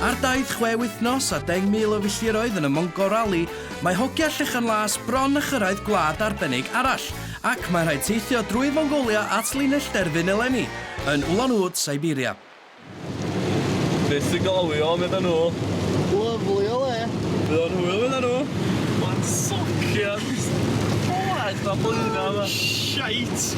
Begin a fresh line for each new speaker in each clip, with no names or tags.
Ar daith chwe wythnos a 10,000 o filltiroedd yn y Mongo Rally, mae hogia Llechan Las bron â chyrraedd gwlad arbennig arall, ac mae'n rhaid teithio drwy Fongolia at linell derfyn eleni, yn Ulan Ude, Siberia.
Be sy'n galwio, medda nhw? Lyfli o
le! Be o'n hwyl, medda
nhw? Mae'n socian! Oes, mae blwyddyn yma! Shite!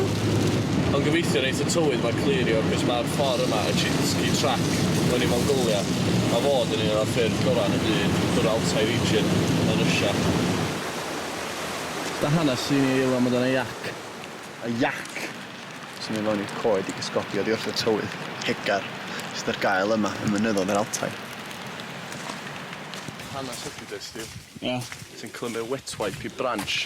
Ond gobeithio neith y tywydd ma clirio cos ma'r ffor yma y Chinsky Track mewn i Mongolia a fod yn un o'r ffyrdd gora yn y byd drwy'r Altai Region yn Russia.
Da hanes sy'n i eilio amdan y jac. Y jac sy'n mynd fewn i'r coed i gysgodi oddi wrth y tywydd hegar sydd ar gael yma ym mynyddoedd yr Altai.
Hanes ydy de Steve? Ia. Ti'n
clymu wet
wipe i branch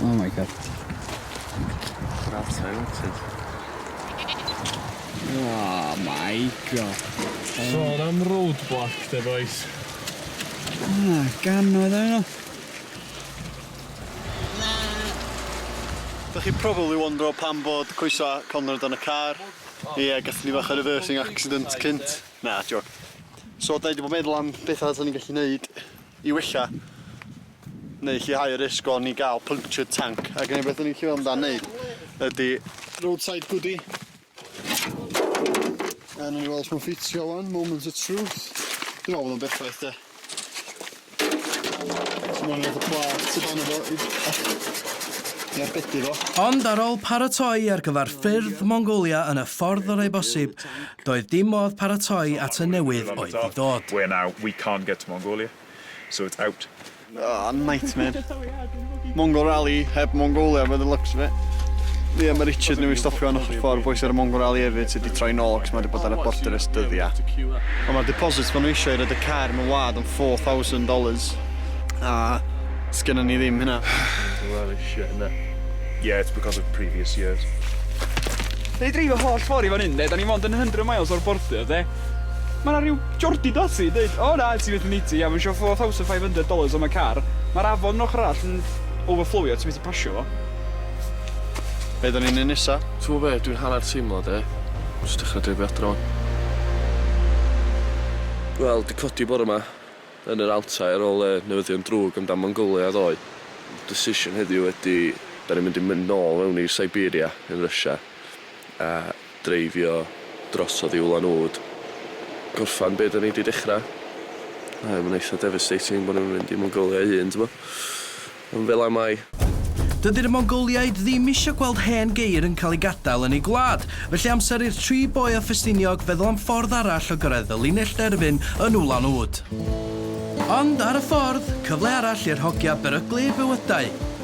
Oh my god. That's
talented.
Oh my god. Sôn am
roadblock, de boys. Ah, gan
oedd yno.
Da chi probably wondro pam bod coesau Conrad yn y car. Ie gathon ni fach o reversing accident cynt. Na jôc. So 'dan ni 'di bod meddwl am betha 'sa ni'n gallu neud i wella neu lleihau y risg o ni ga'l punctured tank ag yn unig beth o'n i'n chwilio amdan neud ydi roadside goody. A newn ni weld os ma'n ffitio ŵan, moment of truth. Dwi me'wl bod o'n berffaith de. Ond ar ôl
paratoi ar gyfer ffyrdd Mongolia yn y ffordd orau bosib, doedd dim modd paratoi at y newydd oedd i ddod. We're now we can't
get to Mongolia so it's out. Aw
nightmare. Mongol Rally heb Mongolia by the looks of it. Ie, mae Richard newydd stopio yn ochr ffordd boes ar y Mongol Rally hefyd sydd wedi troi nôl cos mae wedi bod ar y border ers dyddiau. Ond mae'r deposits maen nhw eisiau i roed y car mewn wad yn $4,000 a sgynnon ni ddim hynna. Well, it's shit,
isn't it? Yeah, it's because
of previous years.
Da ni dreifio holl ffordd i fan hyn, de. Da ni mond yn 100 miles o'r border, de. Ma' 'na ryw Jordy Dasi yn deud o na ti methu neud ti a ma' isio four thousand five hundred dollars am y car. Ma'r afon yr ochor arall yn overflowio ti methu pasio fo.
Be' 'dan ni'n neu' nesa? T'mo' be' dwi'n hannar
teimlo 'de jyst dechra dreifio adra wan. Wel 'di codi bore 'ma yn yr Altai ar ôl y newyddion drwg amdan Mongolia ddoe. Decision heddiw ydi 'dan ni'n mynd i mynd nôl mewn i Siberia yn Russia a dreifio drosodd i Ulan Ude, gorffan be' 'dan ni 'di dechra. Mae o ma'n eitha devastating bo' ni'm yn mynd i Mongolia 'i hun t'bo'? Ond fel 'a mae. Dydi'r
Mongoliaid ddim isio gweld hen geir yn cael ei gadael yn eu gwlad, felly amser i'r tri boi o Ffestiniog feddwl am ffordd arall o gyrraedd y linell derfyn yn Ulan Ude. Ond ar y ffordd, cyfle arall i'r hogia beryglu eu bywydau.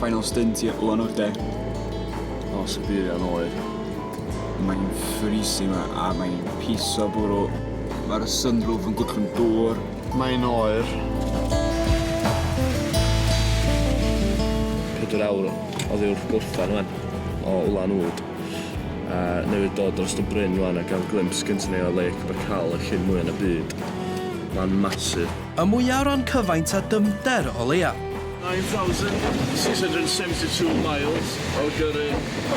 Final stint i Ulan Ude.
O, sy'n byr iawn oer. Mae'n
freezing yma a mae'n piso bwrw. Mae'r sunroof yn gwllwng dŵr. Mae'n oer.
Pedwar awr oddi wrth gorffen wan o Ulan Ud a newydd dod dros y bryn wan a gael glimps gynta ni o Lake Baikal, y llyn mwya yn y byd. Mae'n massive. Y mwyaf o ran
cyfaint a dyfnder, o leia. 9,672
miles o gyrru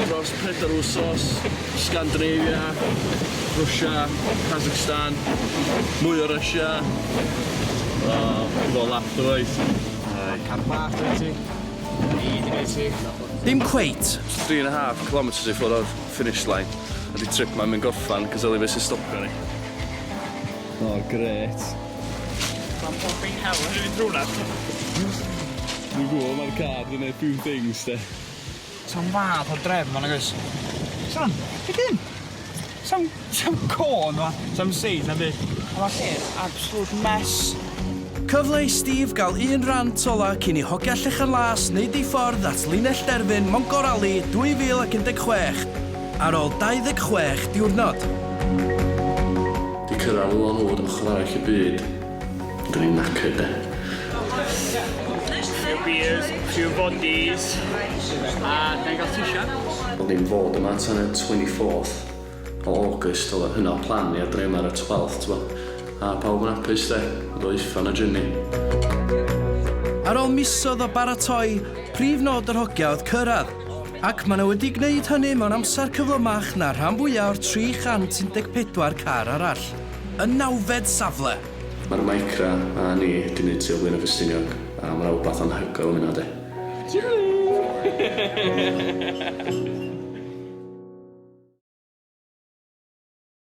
dros pedair wsos, Scandinavia, Rwsia, Kazakhstan, mwy o Rwsia, o, dwi fel lap dwywaith. Yy, car bach
gen ti? Ni, dim gen ti?
Dim cweit. Three and a half
kilometres i ffwrdd o'r finish line a 'di trip 'ma ddim yn gorffan cos yli be' sy'n stopio ni.
O, grêt.
Mae'n popping hell yn mynd trwy 'na. Dwi'n
gwybod mae'r
car di
neud few things
de.
Sam fath o
drefn
ma nagoes? Sam, be di hyn? Sam, sam cân ma, sam seis na byd. Ond ma lle yn absolute mess. Cyfle
i Steve gael un rant ola cyn i hogia Llechan Las wneud ei ffordd at linell derfyn Mongor Rally 2016 ar ôl 26 diwrnod.
Di cyrradd Ŵyl Annwyd ochr arall y byd. Dw i'n knackered de. Few beers,
few bodies, a na'i gael t-shirt. Ond dim fod yma
tan y 24th o August oedd yr hynod plan i a dre yma ar y 12th t'bo. A pawb yn apus de, yn dod i uffern a jynni.
Ar ôl misoedd o baratoi, prif nod yr hogia oedd cyrradd. Ac maen nhw wedi gwneud hynny mewn amser cyflymach na'r rhan fwyaf o'r 314 car arall, y nawfed safle! Mae'r Micra
a ni 'di neud tu o Blaenau Ffestiniog a ma 'na wbath anhygoel am hynna 'de. Tschüss!